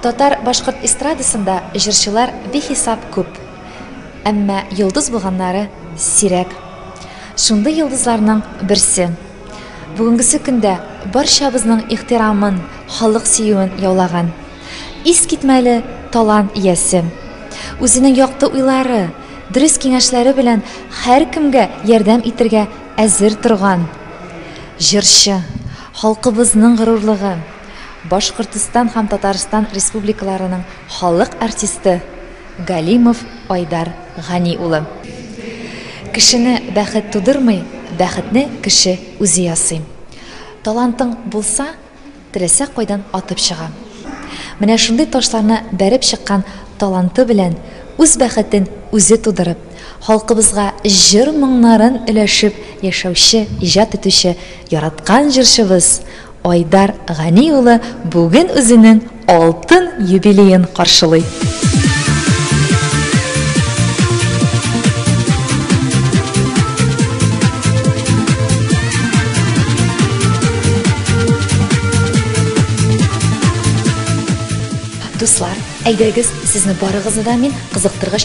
Татар башкорт эстрадасында җырчылар бихисап күп, әмма йолдыз булганнары сирәк. Шундый йолдызларның берсе. Бүгенгесе көндә барчабызның ихтирамын, халык сөюен яулаган. Искитмәле талант иясе. Үзенең якты уйлары, дөрес киңәшләре белән һәркемгә ярдәм итергә әзер торган җырчы, халкыбызның горурлыгы. Башкортстан һәм Татарстан Республикаларының халык артисты Галимов Айдар Гани улы. Кешене бәхет тудырмый, бәхетне кеше үзе ясый. Талантың булса, теләсә кайдан атып чыга. Менә шундый ташларны бәреп чыккан таланты белән үз бәхетен үзе тудырып, халкыбызга җыр-моңнарын өләшеп яшәүче, иҗат итүче яраткан җырчыбыз, Айдар Гани улы бүген үзенең алтын юбилеен каршылый. Дуслар, әйдәгез, сезне барыгызны да мин кызыктыргыч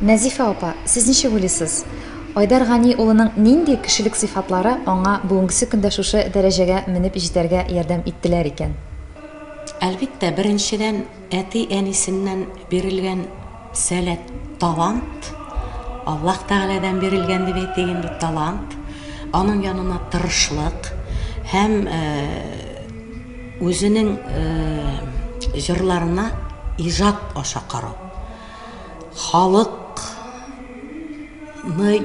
Нәзифә апа, сез ничек уйлыйсыз? Айдар Гани улының нинди кешелек сыйфатлары аңа бүгенге көндә шушы дәрәҗәгә менеп җитәргә ярдәм иттеләр икән? Әлбиттә, беренчедән Әти-әнисеннән бирелгән сәләт, талант, Аллаһ Тәгаләдән бирелгән дип әйтик инде, талант, аның янына тырышлык һәм үзенең җырларына иҗат аша карау. Халыкны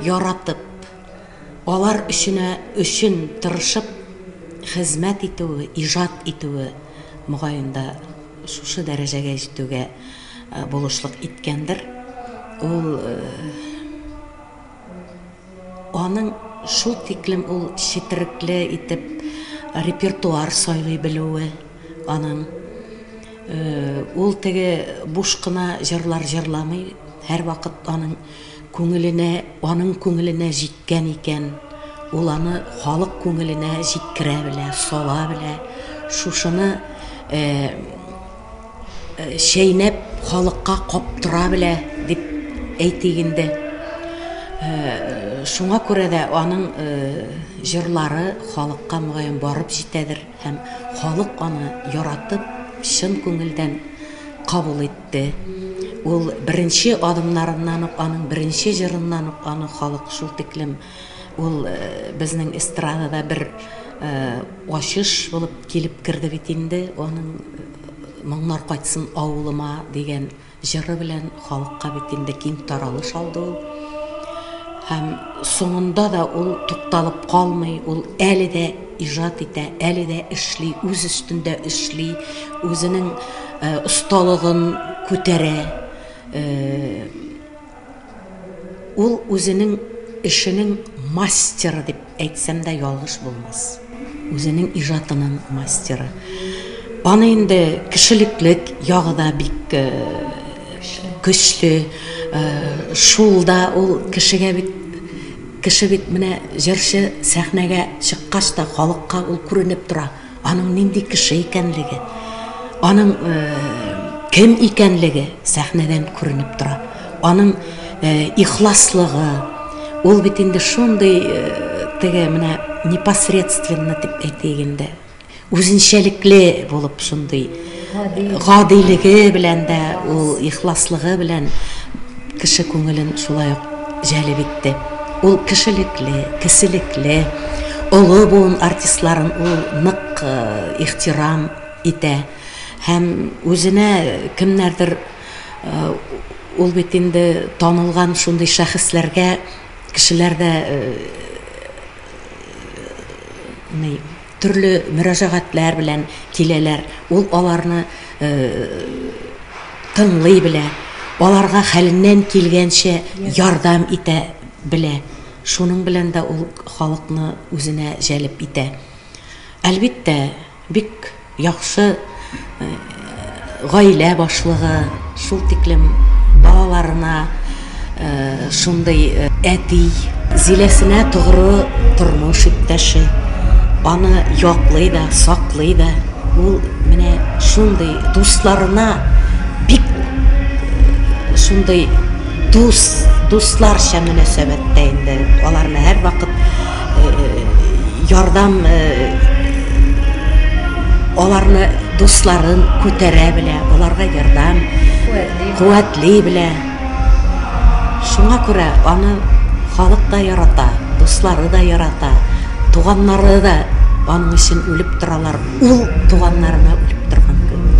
яратып, алар өченә өчен тырышып хезмәт итүе, иҗат итүе, мөгаен дә. Шушы дәрәҗәгә җитүгә булышлык иткәндер. Ул аның шул тиклем ул четерекле итеп репертуар сайлый белүе аның. Ул теге буш кына җырлар җырламый, һәрвакыт аның. Күңеленә, аның күңеленә җиткән икән, ул аны халык күңеленә җиткерә белә, сала белә. Шушыны чәйнәп халыкка каптыра белә, дип әйтик инде. Шуңа күрә дә аның җырлары халыкка мөгаен барып җитәдер һәм халык аны яратып, чын күңелдән кабул итте. Те. Ул беренче адымнарыннан ук, аның беренче җырыннан ук аны халык шул тиклем ул безнең эстрадада бер ачыш булып килеп керде бит инде, аның Моңнар кайтсын авылыма дигән җыры белән халыкка бит инде киң таралыш алды ул. Һәм соңында да ул тукталып калмый, ул әле дә Иҗат итә, әле дә эшли, үз өстендә эшли, үзенең осталыгын күтәрә. Ул үзенең эшенең мастеры дип әйтсәм дә ялгыш булмас. Үзенең иҗатының мастеры. Аны инде кешелеклек ягы да бик көчле. Шул да ул кешегә бит Кеше бит менә җырчы сәхнәгә чыккач та халыкка ул күренеп тора, аның нинди кеше икәнлеге, аның кем икәнлеге сәхнәдән күренеп тора, аның ихласлыгы, ул бит инде шундый теге менә непосредственно дип әйтик инде. Үзенчәлекле булып шундый гадилеге белән дә ул ихласлыгы белән кеше күңелен шулай ук җәлеп итте. Ул кешелекле, кеселекле, олы буын артистларын ул нык э, ихтирам итә һәм үзенә кемнәрдер э, ул бит инде танылган шундый шәхесләргә кешеләр дә э, Төрле мөрәҗәгатьләр белән киләләр, ул аларны тыңлый белә, аларга хәленнән килгәнчә ярдәм итә белә. Шуның белән дә ул халыкны үзенә җәлеп итә. Әлбиттә, бик яхшы гаилә башлыгы шул тиклем балаларына шундый әти, Зиләсенә тогры тормыш иптәше, аны яклый да, саклый да, ул менә шундый дусларына бик шундый дус, дусларча мөнәсәбәттә инде, аларны һәрвакыт ярдәм аларны дусларын күтәрә белә аларга ярдәм куәтли белә шуңа күрә аны халык та ярата дуслары да ярата туганнары да аның өчен үлеп торалар ул туганнарына үлеп торган кебек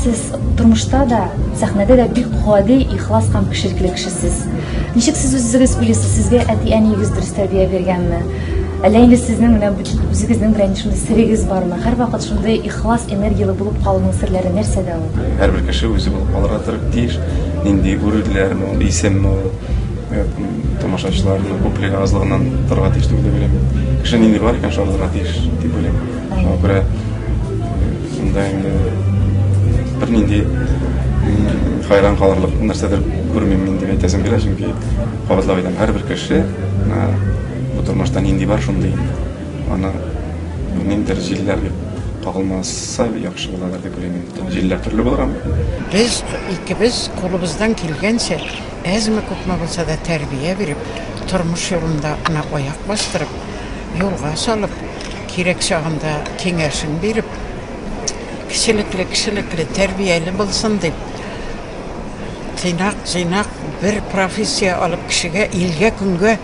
Сез тормышта да, сәхнәдә дә бик гади, ихлас һәм кешелекле кешесез. Ничек сез үзегез уйлыйсыз, сезгә әти-әниегез дөрес тәрбия биргәнме? Әллә инде сезнең менә үзегезнең белән шундый серегез бармы? Һәрвакыт шундый ихлас, энергияле булып калуның серләре нәрсәдә ул? Һәрбер кеше үзе булып калырга тырып тиеш. Нинди үрелләрме ул, исемме ул? Э, Тамашачыларның күплеге азлыгыннан торырга тиеш дип уйлыйм. Кеше нинди бар икән, шундый тиеш дип уйлыйм. Шуңа күрә шунда инде бернинди хайран калырлык нәрсәдер күрмим мин дип әйтәсем килә, чөнки кабатлап әйтәм, һәрбер кеше бу тормышта нинди бар шундый инде. Аны ниндидер җилләр кагылмаса яхшы буладыр дип уйлыйм инде. Җилләр төрле булыр аны. Без икебез кулыбыздан килгәнчә, әзме күпме булса да тәрбия биреп, тормыш юлында ана аяк бастырып, юлга салып, Кирәк чагында киңәшен биреп, кечелекле, кешелекле, тәрбияле булсын дип, тыйнак, җыйнак бер профессия алып, кешегә, илгә, көнгә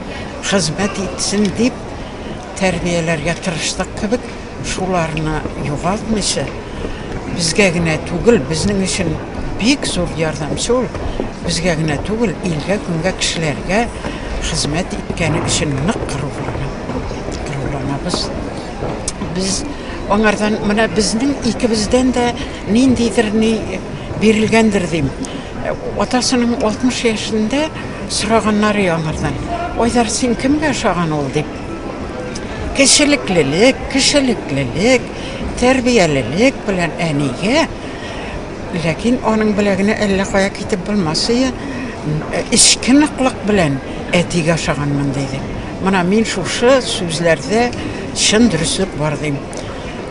хезмәт итсен дип тәрбияләргә тырыштык кебек, шуларны югалтмыйча, безгә генә түгел, безнең өчен бик зур ярдәмче ул, безгә генә түгел, илгә, көнгә, кешеләргә хезмәт иткәне өчен нык горурланам. Кырылганабыз. Без аңардан менә безнең икебездән дә ниндидер ни бирелгәндер дим. Атасының 60 яшендә сораганнары аңардан. Айдар, син кемгә ошаган ул дип? Кешелеклелек, кешелеклелек, тәрбиялелек белән әнигә Ләкин аның беләгенә әллә кая китеп булмас ие, эчке ныклык белән әтигә ошаганмын, диде. Мына мин шушы сүзләрдә чын дөреслек бар дим.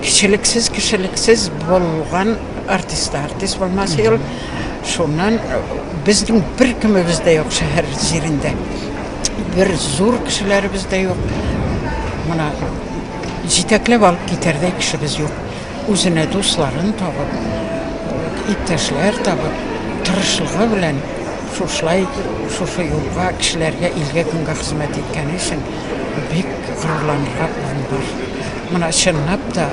Кечелексез, кешелексез булган артист та артист булмас ие ул. Шуннан безнең беркемебез дә юк шәһәр җирендә. Бер зур кешеләребез дә юк. Мына җитәкләп алып китәрдәй кешебез юк. Үзенә дусларын табып, иптәшләр табып, тырышлыгы белән шушылай, шушы юлга, кешеләргә, илгә, көнгә хезмәт иткәне өчен бик горурланырга урын бар. Менә чынлап та,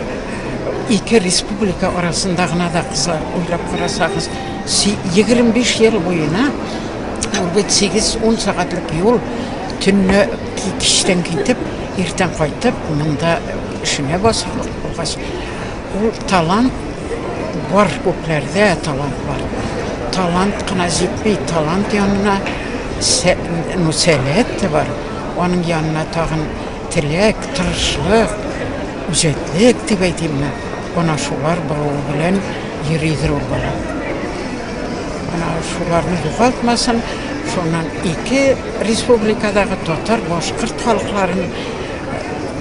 ике республика арасында гына да кыза, уйлап карасагыз, си, егерме биш ел буена, ул бит сигез, ун сәгатьлек юл, төнлә, кичтән китеп, иртән кайтып, монда, Эшеңә басып укыгач, ул талант бар, күпләрдә талант бар. Талант кына җитми, талант янына ну, сәләт тә бар. Аның янына тагын теләк, тырышлык, үҗәтлек дип әйтимме, ана шулар булуы белән йөридер ул бала. Ана шуларны югалтмасын, шуннан ике республикадагы татар, башкорт халыкларын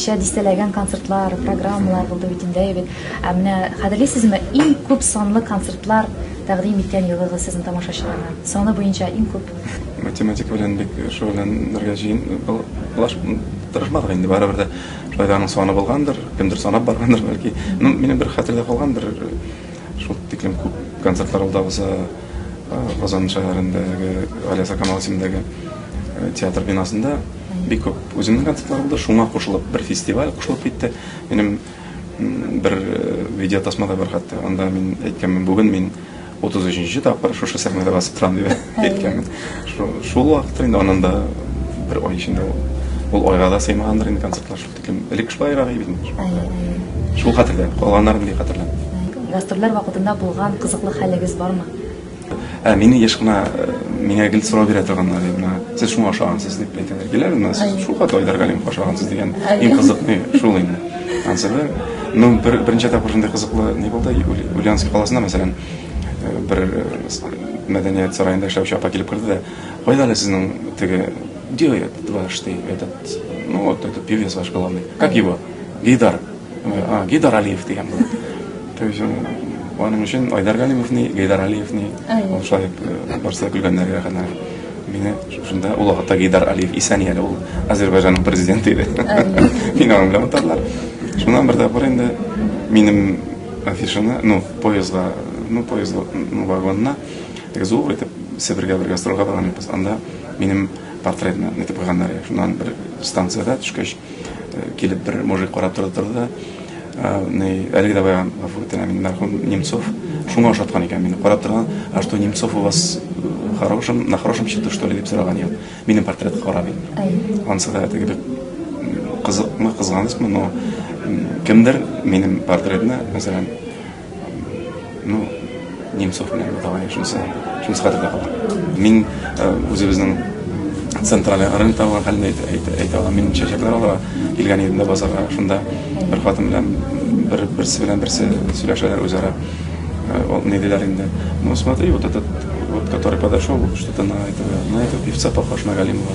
ничә дистәләгән концертлар, программалар булды бит инде бит. Ә менә хәтерлисезме, иң күп санлы концертлар тәкъдим иткән елыгыз сезнең тамашачыларга? Саны буенча иң күп. Математика белән бик шөгыльләнергә җыен, плаш тырышмадык инде барыбер дә. Райданың саны булгандыр, кемдер санап баргандыр бәлки. Ну, минем бер хәтердә калган бер шул тиклем күп концертлар ул да булса Казан шәһәрендәге Алиаса Камал исемендәге театр бинасында бик күп үземнең концертлар булды. Шуңа кушылып бер фестиваль кушылып китте. Минем бер видеотасмада бар хәтта. Анда мин әйткәнмен, бүген мин Утыз өченче тапкыр шушы сәхнәдә басып торам дип әйткәнмен. Шул вакытта инде анын да бер ай эчендә ул айга да сыймагандыр инде концертлар шул тиклем. Элек шулайрак иде бит. Шул хәтердә, калганнарын ни хәтерләмим. Гастрольләр вакытында булган кызыклы хәлегез бармы? Ә мине еш кына миңа гел сорау бирә торганнар, менә сез шуңа ошагансыз дип әйтәләр. Киләләр, менә сез шул хәтле Айдар Галимов ошагансыз дигән. Иң кызыкны шул инде. Ансы Ну, бер, беренче тапкыр шундый кызыклы ни булды. Ульяновск каласына, мәсәлән, э, бер э, мәдәният сараенда эшләүче апа килеп керде дә, кайда әле сезнең теге где этот ваш ты, этот, ну вот этот певец ваш главный, как его? Гидар. А, Гидар Алиев дигән булды. То есть аның өчен Айдар Галимовны, Гидар Алиевны, ул шулай э, барса көлгәннәр рәхәтләнеп. Мине шушында ул вакытта Гейдар Алиев исән ияле ул Азербайҗанның президенты иде. Мин аны белән атадылар. Шуннан бер тапкыр инде минем афишаны, ну, поездга, ну, поездга, ну, вагонына, так зур итеп Себергә бергә строга барган идек. Анда минем портретны нитеп куйганнар. Шуннан бер станцияда төшкәч, Килеп бер мужик карап торды торды. Ни, әлеге дә баян гафу итә мин мәрхүм Немцов. Шуңа ошаткан икән мине. Карап торган, а что Немцов у вас хорошим, на хорошем счету что ли дип сораган икән. Минем портретка карап. Ансы да теге бик кызыкмы, кызганычмы, но кемдер минем портретны, мәсәлән, Ну, Немцов белән давай шунысы, шунысы хәтердә калды. Мин үзебезнең центральный рынок табылган хәлендә әйтә, әйтә аламын. Мин чәчәкләр алырга килгән идем дә базарга. Шунда бер хатын белән бер берсе белән берсе сөйләшәләр үзара. Ул ни диләр инде? Ну, смотри, вот этот вот который подошел, что-то на этого, на этого певца похож на Галимова.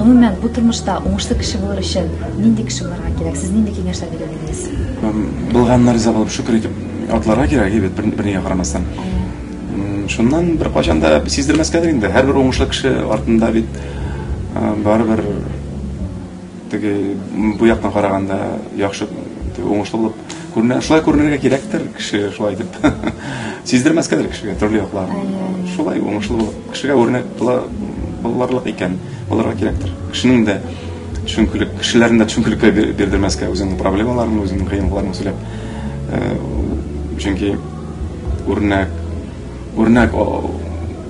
Гомумән, бу тормышта уңышлы кеше булыр өчен нинди кеше булырга кирәк? Сез нинди киңәшләр бирер идегез? Булганнар риза булып шөкер итеп атларга кирәк, әйбәт бер, бернигә карамастан. Шуннан бер качан да сиздермәскәдер инде. Һәрбер уңышлы кеше артында бит барыбер Теге бу яктан караганда яхшы уңышлы булып күренә. Шулай күренергә кирәктер кеше шулай дип. Сиздермәскәдер кешегә төрле яклар. Шулай уңышлы булып кешегә үрнәк була буларлык икән, булырга кирәктер. Кешенең дә төшенкелек, кешеләрне дә төшенкелеккә бирдермәскә үзеңнең проблемаларың, үзеңнең кыенлыкларың сөйләп. Э, чөнки үрнәк Үрнәк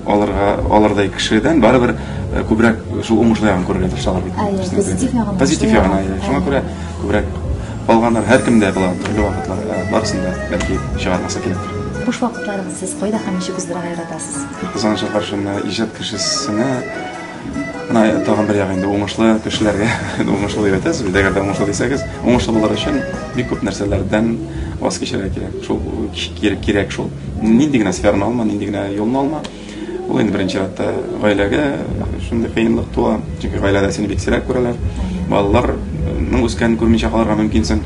алырга алырдай кешедән барыбер күбрәк шул уңышлы ягын күрергә тырышалар бит. Позитив ягын. Позитив ягын. Шуңа күрә күбрәк алганнар һәркемдә була, төрле вакытлар барысында бәлки чыгармаса кирәктер. Буш вакытларыгыз сез кайда һәм ничек уздырырга яратасыз? Кызганычка каршы, менә иҗат кешесенә Менә тагын бер ягы инде уңышлы кешеләргә уңышлы дип әйтәсез бит, әгәр дә уңышлы дисәгез, уңышлы булыр өчен бик күп нәрсәләрдән ваз кичерергә кирәк. Шул кирәк шул. Нинди генә сфераны алма, нинди генә юлны алма. Ул инде беренче чиратта гаиләгә шундый кыенлык туа, чөнки гаиләдә сине бик сирәк күрәләр. Балаларның үскәнен күрмичә калырга мөмкинсең.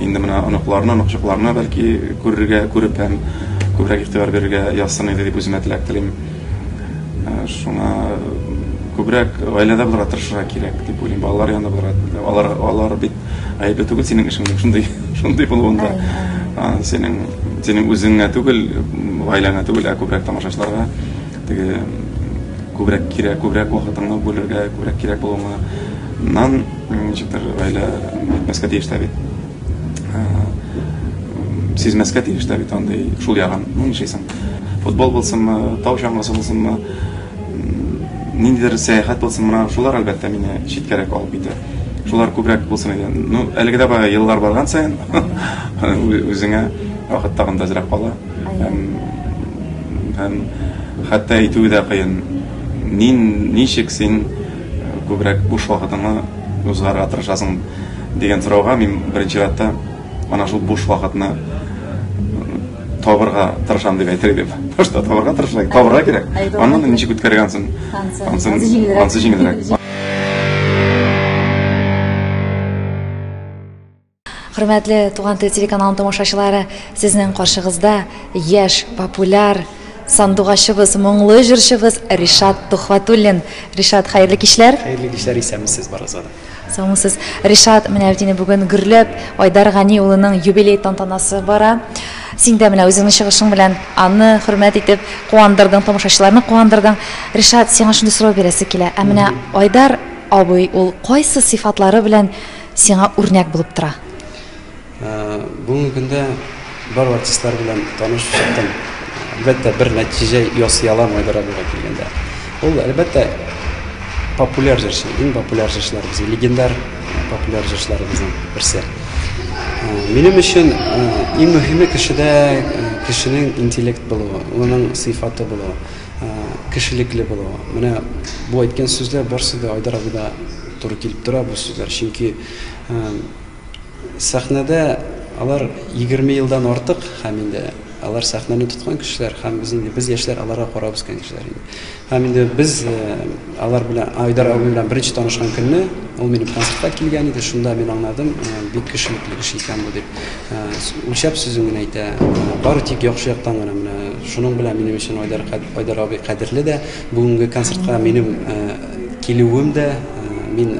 Инде менә оныкларны, оныкчыкларны бәлки күрергә, күреп һәм күбрәк игътибар бирергә язсын иде дип үземә теләк телим. Шуңа күбрәк гаиләдә булырга тырышырга кирәк дип уйлыйм. Балалар янында булырга. Алар алар бит гаепле түгел синең эшеңнең шундый шундый булуында. Синең синең үзеңә түгел, гаиләңә түгел, ә күбрәк тамашачыларга теге күбрәк кирәк, күбрәк вакытыңны бүлергә, күбрәк кирәк булуыңа. Нан ничектер гаилә мәскә тиештә бит. сизмәскә тиеш тә бит андый шул ягын. Ну, нишәйсең? Футбол булсынмы, тау чаңгысы булсынмы, ниндидер сәяхәт булсын, мына шулар әлбәттә мине читкәрәк алып китә. Шулар күбрәк булсын иде. Ну, әлеге дә бая еллар барган саен үзеңә вакыт тагын да азрак кала. Һәм хәтта әйтүе дә кыен. Нин, ничек син күбрәк буш вакытыңны узгарга тырышасың? дигән сорауга мин беренче чиратта ана шул буш вакытны табырга тырышам дип әйтер идем. Башта табырга тырышырга, табырга кирәк. Аннан ничек үткәргән соң? Ансы җиңелрәк. Хөрмәтле Туган тел телеканалының тамашачылары, сезнең каршыгызда яшь, популяр сандугачыбыз, моңлы җырчыбыз Ришат Тухватуллин. Ришат, хәерле кичләр. Хәерле кичләр, исәнмесез барыгызга да. Соңсыз Ришат менә бит инде бүген гөрләп Айдар Гани улының юбилей тантанасы бара. Син дә менә үзеңнең чыгышың белән аны хөрмәт итеп куандырдың, тамашачыларны куандырдың. Ришат, сиңа шундый сорау бирәсе килә. Ә менә Айдар абый ул кайсы сыйфатлары белән сиңа үрнәк булып тора? Бүгенге көндә бар артистлар белән танышып чыктым. Әлбәттә, бер нәтиҗә ясый алам Айдар абыйга килгәндә. Ул, әлбәттә, популяр җырчы, иң популяр җырчыларыбыз, легендар популяр җырчыларыбызның берсе. Минем өчен иң мөһиме кешедә кешенең интеллект булуы, улының сыйфаты булуы, кешелекле булуы. Менә бу әйткән сүзләр барсы да Айдар абыйда туры килеп тора бу сүзләр. Чөнки Сәхнәдә алар егерме елдан артык һәм инде алар сәхнәне тоткан кешеләр һәм без инде без яшьләр аларга карап үскән кешеләр инде. Һәм инде без э, алар белән Айдар абый белән беренче танышкан көнне ул минем концертка килгән иде. Шунда мин аңладым, э, бик кешелекле кеше икән бу дип. Э, үлчәп сүзен генә әйтә. Бары тик яхшы яктан гына менә шуның белән минем өчен Айдар Айдар абый кадерле дә. Бүгенге концертка минем килүем дә мин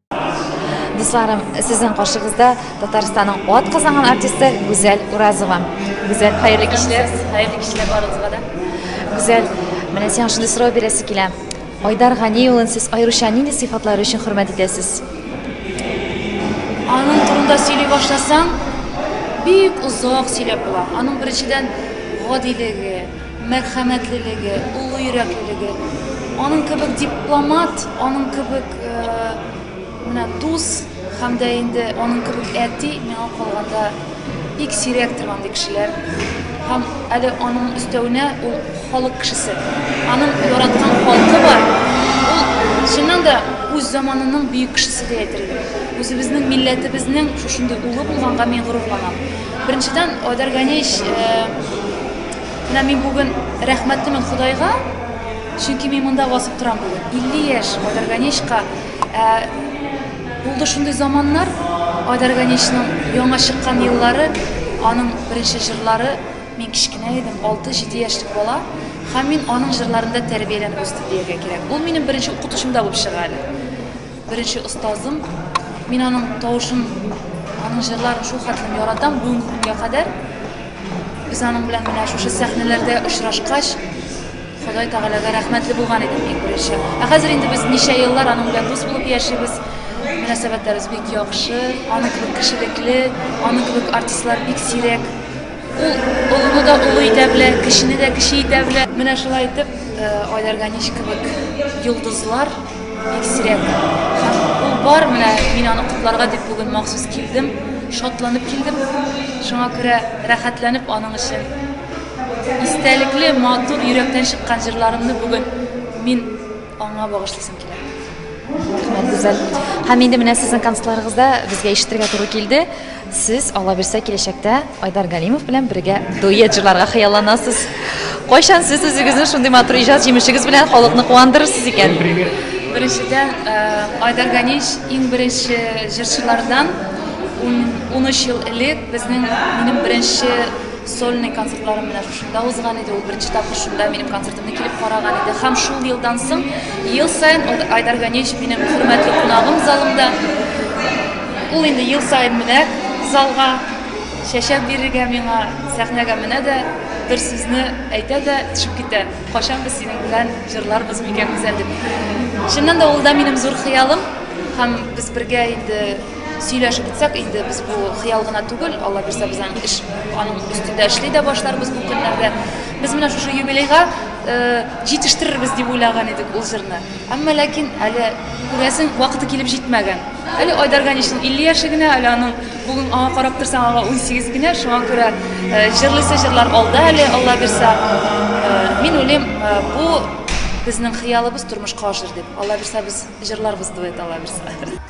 Дусларым, сезнең каршыгызда Татарстанның ат казанган артисты Гүзәл Уразова. Гүзәл, хәерле кичләр. Хәерле кичләр барыгызга да. Гүзәл, менә сиңа шундый сорау бирәсе килә. Айдар Гани улын сез аеруча нинди сыйфатлары өчен хөрмәт итәсез? Аның турында сөйли башласаң, бик озак сөйләп була. Аның беренчедән гадилеге, мәрхәмәтлелеге, олы йөрәклелеге, аның кебек дипломат, аның кебек менә дус һәм дә инде аның кебек әти миңа калганда бик сирәк торган ди кешеләр. Һәм әле аның өстәвенә ул халык кешесе. Аның яраткан халкы бар. Ул чыннан да үз заманының бөек кешесе дип әйтергә. Үзебезнең милләтебезнең шушындый улы булганга мин горурланам. Беренчедән, Айдар Ганеевич Менә мин бүген рәхмәтлемен Ходайга, чөнки мин монда басып торам бүген. 50 яшь Айдарганечка. Ә, булды шундый заманнар, Айдарганечның яңа чыккан еллары, аның беренче җырлары, мин кечкенә идем, 6-7 яшьлек бала, һәм мин аның җырларында тәрбияләнеп үстем дияргә кирәк. Ул минем беренче укытучым да булып чыга әле. Беренче остазым. Мин аның тавышын, аның җырларын шул хәтлем яратам бүгенге көнгә кадәр. Без аның белән менә шушы сәхнәләрдә очрашкач, Ходай Тәгаләгә рәхмәтле булган идем иң беренче. Ә хәзер инде без ничә еллар аның белән дус булып яшибез. Мөнәсәбәтләребез бик яхшы, аның кебек кешелекле, аның кебек артистлар бик сирәк. Ул олыны да олы итә белә, кешене дә кеше итә белә. Менә шулай итеп, э, Айдар Ганич кебек йолдызлар бик сирәк. Һәм ул бар, менә мин аны котларга дип бүген махсус килдем, шатланып килдем. Шуңа күрә рәхәтләнеп аның өчен истәлекле, матур, йөрәктән чыккан җырларымны бүген мин Аңа багышлыйсым килә. Рәхмәт, гүзәл. Һәм инде менә сезнең концертларыгызда безгә ишетергә туры килде. Сез Алла бирсә киләчәктә Айдар Галимов белән бергә дуэт җырларга хыялланасыз. Кайчан сез үзегезне шундый матур иҗат җимешегез белән халыкны куандырырсыз икән? Беренчедән, Айдар Ганич иң беренче җырчылардан. Ун, унөч ел элек безнең, минем беренче Сольный концертларым менә шушында узган иде, ул беренче тапкыр шунда минем концертымны килеп караган иде. Һәм шул елдан соң ел саен Айдар Ганеевич минем хөрмәтле кунагым залымда. Ул инде ел саен менә залга чәчәк бирергә миңа, сәхнәгә менә дә бер сүзне әйтә дә төшеп китә. Кайчан без синең белән җырларбыз микән үзән дип. Чыннан да ул да минем зур хыялым һәм без бергә инде Сөйләшеп үтсәк, инде без бу хыял гына түгел, Алла бирсә, без аның эш, аның өстендә эшли дә башларбыз бу көннәрдә. Без менә шушы юбилейга э, җитештерербез дип уйлаган идек ул җырны. Әмма ләкин әле күрәсең, вакыты килеп җитмәгән. Әле Айдар Ганишның 50 яше генә, әле аның бүген аңа карап торсаң, аңа 18 генә, шуңа күрә э, җырлыйсы җырлар алда әле, Алла бирсә. Э, мин уйлыйм, э, бу безнең хыялыбыз тормышка ашыр дип. Алла бирсә, без җырларбыз дуэт, Алла бирсә.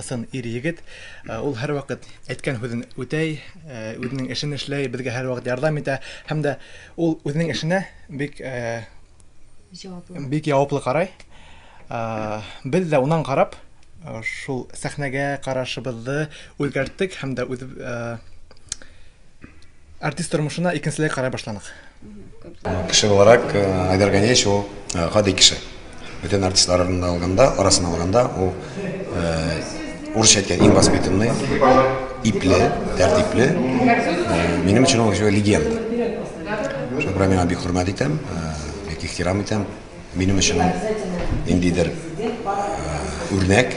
ысын ир-егет. Ул һәрвакыт әйткән һүзен үтәй, үзенең эшен эшләй, безгә һәрвакыт ярдәм итә һәм дә ул үзенең эшенә бик җаваплы. Бик җаваплы карай. Без дә унан карап, шул сәхнәгә карашыбызны үзгәрттек һәм дә үз Артист тормышына икенчеләй карай башланык. Кеше буларак Айдар Ганеевич ул гади кеше. Бөтен артистлар арасында алганда, арасына алганда ул урысча әйткән иң воспитанный, ипле, тәртипле. Минем өчен ул легенда. Шуңа күрә миңа бик хөрмәт итәм, бик ихтирам итәм. Минем өчен ниндидер үрнәк.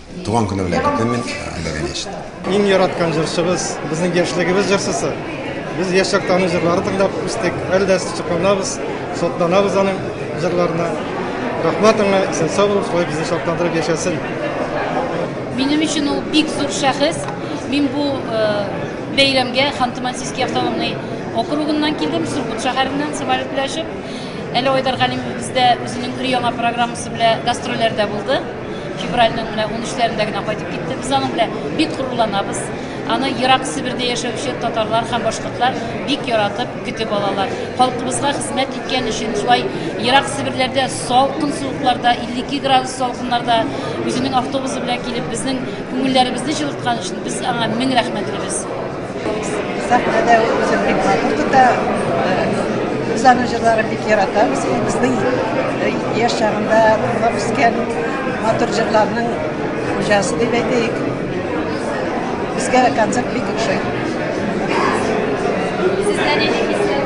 Туган көне белән көтәм мин Әлләгә нечт. Иң яраткан җырчыбыз, безнең яшьлегебез җырчысы. Без яшь чакта аның җырларын тыңлап үстек. Әле дә сокланабыз, сокланабыз аның җырларына. Рәхмәт аңа, исән сау булып, шулай безне шатландырып яшәсен. Минем өчен ул бик зур шәхес. Мин бу э, бәйрәмгә Ханты-Мансийский автономный округыннан килдем, Сургут шәһәреннән самолет белән очып. Әле Айдар Галимов бездә үзенең өр-яңа программасы белән гастрольләрдә булды. Февральнең менә 13-ләрендә генә кайтып китте. Без аның белән бик горурланабыз. Аны ерак Себердә яшәүче татарлар һәм башкортлар бик яратып көтеп алалар. Халкыбызга хезмәт иткән өчен шулай ерак Себерләрдә салкын суыкларда, 52 градус салкыннарда үзенең автобусы белән килеп, безнең күңелләребезне җылыткан өчен без аңа мең рәхмәтлебез. Сәхнәдә үзен бик матур тота. Без аның җырларын бик яратабыз. Ул безнең яшь чагында тыңлап үскән матур җырларның хуҗасы дип әйтик. Безгә концерт бик ошый. Сездә нинди хисләр?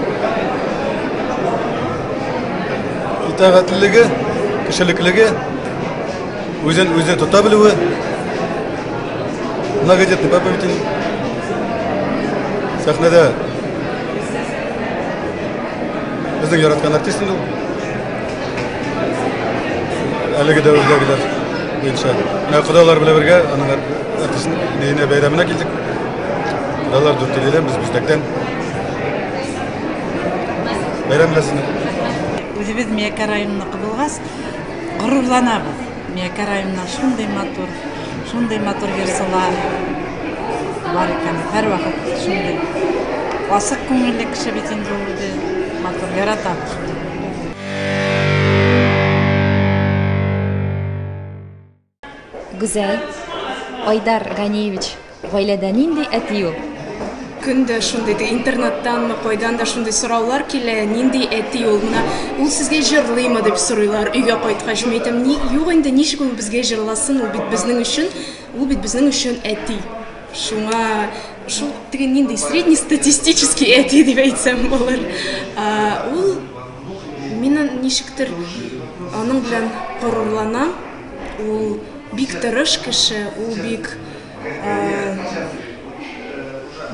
Итагатьлелеге, кешелеклеге, Үзен үзе тота белүе, многодетный папа бит инде. Сәхнәдә безнең яраткан артист инде ул. Әлеге дәверләгеләр буенча. Менә кодалар белән бергә аның артистын бейенә бәйрәменә килдек. Кодалар дүртеледән без бүздәктән. Бәйрәм беләсезме? Үзебез Миякә районыныкы булгач, Горурланабыз. Миякә районыннан шундый матур, шундый матур йорсылар бар икән. Һәрвакыт шундый асык күңелле кеше бит инде ул үзе. Матур яратабыз. Гүзәл, Айдар Ганиевич, гаиләдә нинди әти ул? Көн дә шундый ди, интернеттанмы, кайдан да шундый сораулар килә, нинди әти ул менә, ул сезгә җырлыймы дип сорыйлар, өйгә кайткач, мин әйтәм, ни, юк инде, ничек ул безгә җырласын, ул бит безнең өчен, ул бит безнең өчен әти. Шуңа шул теге нинди среднестатистический әти дип әйтсәм булыр. Ул мин ничектер аның белән горурланам. Ул бик тырыш кеше, ул бик ә,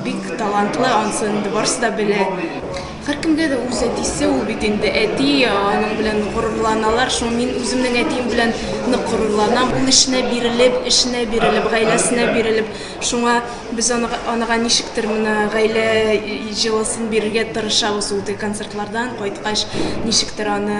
бик талантлы, ансын инде барысы да белә. Һәркемгә дә үз әтисе ул бит инде әти, аның белән горурланалар. Шул мин үземнең әтием белән нык горурланам. Ул эшенә бирелеп, эшенә бирелеп, гаиләсенә бирелеп, шуңа без анага, анага ничектер менә гаилә җылысын бирергә тырышабыз ул концертлардан кайткач, ничектер аны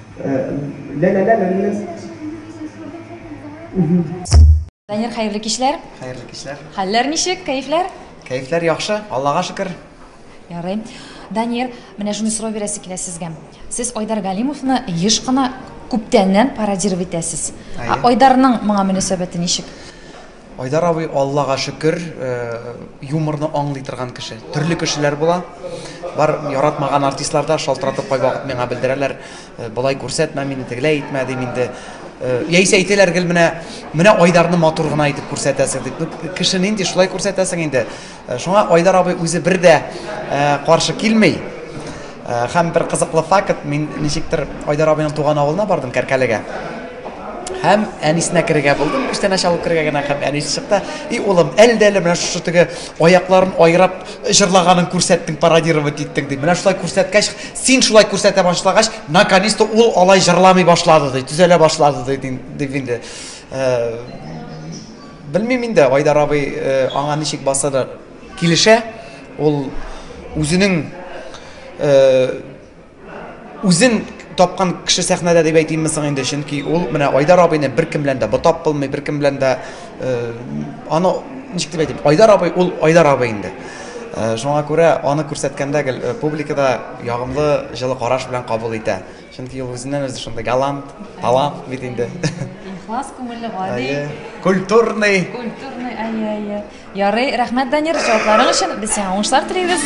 Данир, хәерле кичләр! Хәерле кичләр! Хәлләр ничек, кәефләр? Кәефләр яхшы, Аллага шөкер! Ярый. Данир, менә шуны сорау бирәсе килә сезгә. Сез Айдар Галимовны еш кына, күптәннән пародировать итәсез. Әйе. Айдарның моңа мөнәсәбәте ничек? Айдар абый Аллага шөкер юморны аңлый торган кеше. Төрле кешеләр була. Бар яратмаган артистлар да шалтыратып кайвакыт миңа белдерәләр, болай күрсәтмә мине, тегеләй итмә дим инде. Яисә әйтәләр гел менә менә Айдарны матур гына итеп күрсәтәсең дип. Кеше нинди шулай күрсәтәсең инде. Шуңа Айдар абый үзе бер дә каршы килми. Һәм бер кызыклы факт, мин ничектер Айдар абыйның туган авылына бардым, Кәркәлегә. Һәм әнисенә керергә булдым, күчтәнәч алып керергә генә һәм әнисе чыкты. И улым, әлдә-әле менә шушы теге аякларын айрап җырлаганын күрсәттең, пародировать иттең, ди. Менә шулай күрсәткәч, син шулай күрсәтә башлагач, наконец-то ул алай җырламый башлады, ди, төзәлә башлады, ди, дип инде. Белмим инде, Айдар абый аңа ничек баса да килешә. Ул үзенең үзен тапкан кеше сәхнәдә дип әйтимме соң инде, чөнки ул менә Айдар абыйны беркем белән дә ботап булмый, беркем белән дә аны ничек дип әйтим, Айдар абый ул Айдар абый инде. Шуңа күрә аны күрсәткәндә гел публика да ягымлы, җылы караш белән кабул итә. Чөнки ул үзеннән-үзе шундый галант, талант бит инде. Ихлас күңелле, гади. Әйе, культурный. Культурный, әйе, әйе. Ярый, рәхмәт, Данир, җавапларың өчен. Без сиңа уңышлар телибез.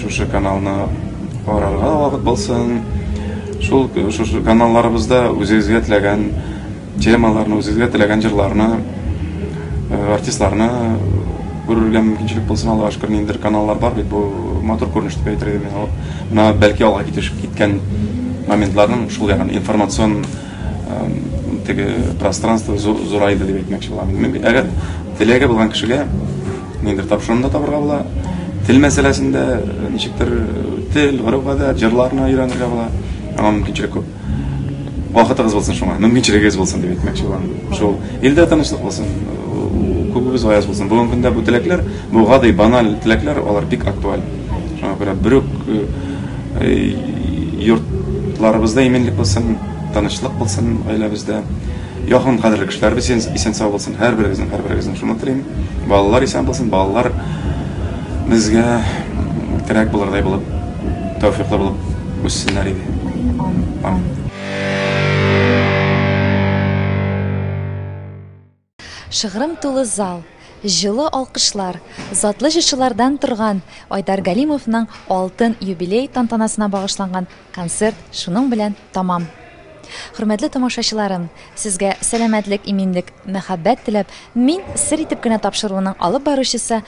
Шушы каналны карарга вакыт булсын. Шул шушы каналларыбызда үзегезгә теләгән темаларны, үзегезгә теләгән җырларны, э, артистларны күрергә мөмкинчелек булсын Аллаһу шөкер, ниндидер каналлар бар бит, бу матур күренеш дип әйтергә мин. Менә бәлки алга китеш киткән моментларның шул ягын информацион теге пространство зурайды дип әйтмәкче булам. Әгәр теләге булган кешегә ниндер тапшырымда табырга була. Тел мәсьәләсендә э, ничектер э, тел, гореф-гадәт, җырларны өйрәнергә була. Аңа мөмкинчелек күп. Вакытыгыз булсын шуңа, мөмкинчелегегез булсын дип әйтмәкче булам. Шул илдә тынычлык булсын, күбегез аяз булсын. Бүгенге көндә бу теләкләр, бу гади баналь теләкләр, алар бик актуаль. Шуңа күрә бер үк э, Йортларыбызда иминлек булсын, тынычлык булсын гаиләбездә. Якын кадерле кешеләребез исән сау булсын. Һәрберегезнең, һәрберегезнең шуны телим. Балалар исән булсын, балалар безгә терәк булырдай булып, тәүфиклы булып үссеннәр иде. Амин. Шыгрым тулы зал, җылы алкышлар, затлы җырчылардан торган Айдар Галимовның алтын юбилей тантанасына багышланган концерт шуның белән тәмам. Хөрмәтле тамашачыларым, сезгә сәламәтлек, иминлек, мәхәббәт теләп, мин сер итеп кенә тапшыруының алып баручысы